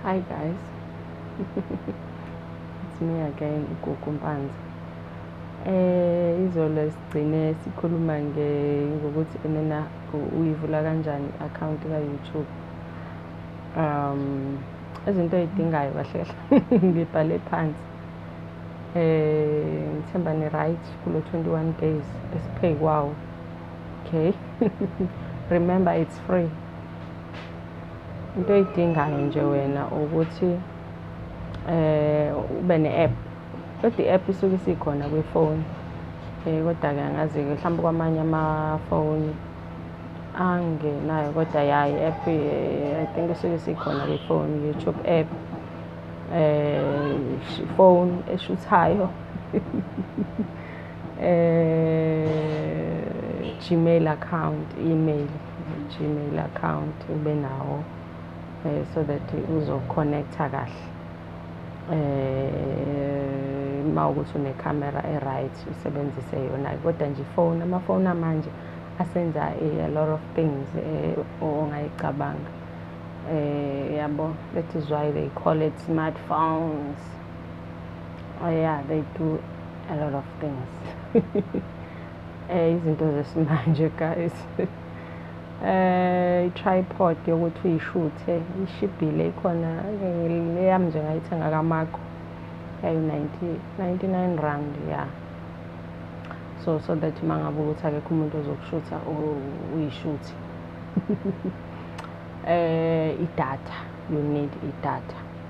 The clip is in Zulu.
Hi guys. It's me again uGugu Mpanza. Eh izolo sigcine sikhuluma nge ngokuthi enena uyivula kanjani account ka YouTube. Um izinto ezidingayo kahle kahle ngibhale phansi. Eh ngithemba ni right kulo 21 days esiphe kwawo. okay remember it's free into oyidingayo nje wena ukuthi eh ube ne-app kodwa i-app isuke isikhona kwifoni um eh, kodwa-ke angazi-ke mhlawumbe kwamanye amafoni angenayo kodwa ya i-app eh, i think isuke isikhona kwifoni youtube app um eh, phone eshuthayo eh gmail account email gmail account ube nawo eh so that uzoconnecta kahle eh uma ukuthi une camera e right usebenzise yona kodwa nje phone ama phone amanje asenza a lot of things eh ongayicabanga eh yabo that is why they call it smartphones oh yeah they do a lot of things eh izinto zesimanje guys eh tripod yokuthi uyishuthe ishibhile ikhona leyami nje ngayithenga kamakho yayo 99 rand ya yeah. so so that uma ngabe ukuthi akekho umuntu ozokushutha uyishuthe eh idatha you need idatha